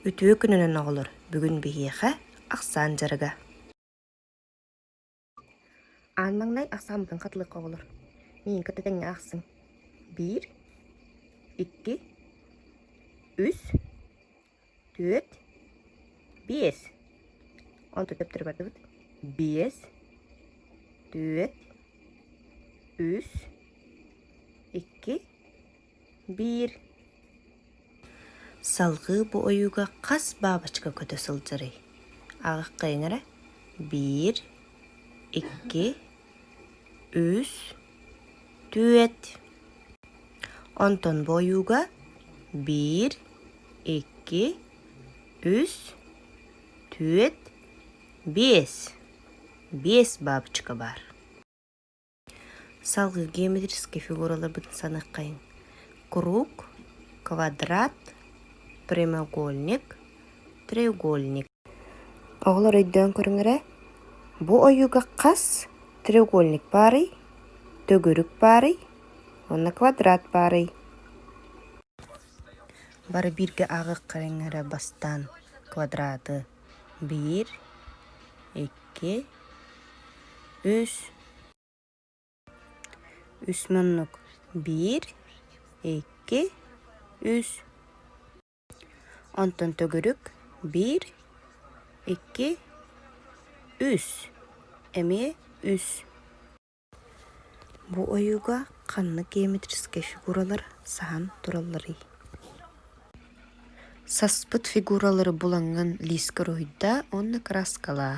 Үтүө күнүнэн, оҕолор! Бүгүн биһиэхэ ахсаан дьарыга. Аан маҥнай ахсааммытын хатылыахха оҕолор. Миин кытта тэҥҥэ ахсын. Биир, икки, үс, түөрт, биэс. Онтон төптөрү бардыбыт. Биэс, түөрт, үс, икки, Биир салгыы бу ойууга хас баабачка көтө сылдьарый? Аҕыккайыҥ эрэ биир, икки, үс, түөрт. Онтон бу ойууга биир, икки, үс, түөрт, биэс. Биэс баабачка баар. Салгыы геометрическай фигураларбыт саныаххайыҥ: круг, квадрат, прямоугольник, треугольник. Оҕолор өйдөөн көрүҥ эрэ, бу ойууга хас треугольник баарый, төгүрүк баарый уонна квадрат баарый? Бары бииргэ ааҕыахха эрэ бастаан квадраты биир икки үс үс муннук биир икки үс онтон төгүрүк биир икки үс эмиэ үс Бу ойууга ханнык геометрическай фигуралар саһан туралларый? Саспыт фигуралары булаҥҥын лиискэ уруһуйда уонна кырааскалаа.